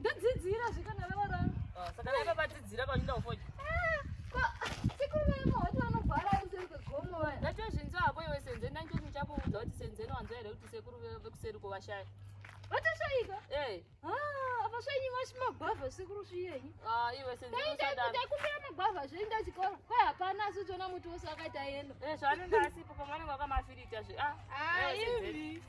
ndodzidzira zvikana vevaranga ah, saka naiva vadzidzira vachida kufoja ndachozvinzwa hako iwe senzeni ndanichozi ndichakuudza kuti senzeni wanzwa here kuti sekuru vekuseri kovashaya vatoshaika Ah, apa svenyi vasi magwavha sekuru sviyenyi ah, iwe sendaikumbira magwavha zvoinda chikoro kwai hapana asi uchiona muti wose wakaita yeno eh, zvaanenge asipo pamwe anenge wakamafirita zve ah, ah, ivi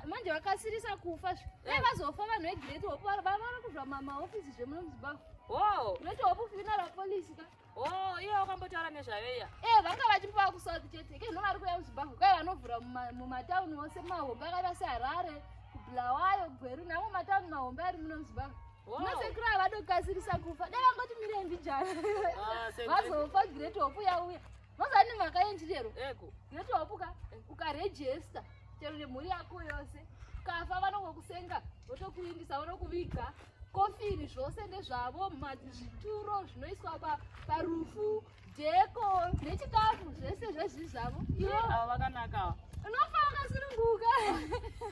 manje vakasirisa kufa zve dai eh. vazofa vanhu vegireti hopu vava kuzva mamahofisi zvemuno muzimbabwe reti hopu fina rapolisi ka Oh, iye wakambotaura nezvayo iya. Eh, vanga vachimbowa ku South chete. Ke no vari kuya kuZimbabwe. Kai vanovhura mumatown ose mahombe akaita seHarare, kuBulawayo, Gweru namo matown mahombe ari muno muZimbabwe. Masekuru ava vadokasirisa kufa. Dai vangoti mire mbijana. Ah, Vazofa great hope yauya. Vazani mhaka yenji lero. Ego. Noti wapuka ukarejesta chero nemhuri yako yose. Kafa vanongokusenga votokuindisa vonokuviga. Kofini zvose ndezvavo zvituro zvinoiswa pa parufu deko nechikafu zvese zvezvi zvavo. Ivo ava vakanaka. Unofa wakasununguka.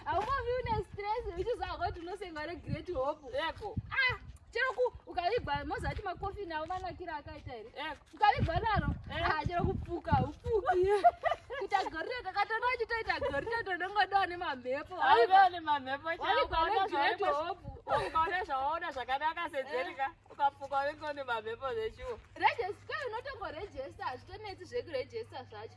Haumavi une stress uchiziva kuti unosengwa regret hope. Ego. Ah, chero ku ukavigwa mozati makofini avo vanakira akaita here? Ego. Ukavigwa naro hachero eh. kupfuka upfuki kuita gorira takatona uchitoita gorira tonongodawa nemamhepo aivawo nemamhepo ukaona zvawaona zvakanaka sedzerika eh. ukapfuka unenge une mamhepo zvechuo regesta unotongorejesta hazvitonetsi zvekurejesta zvacho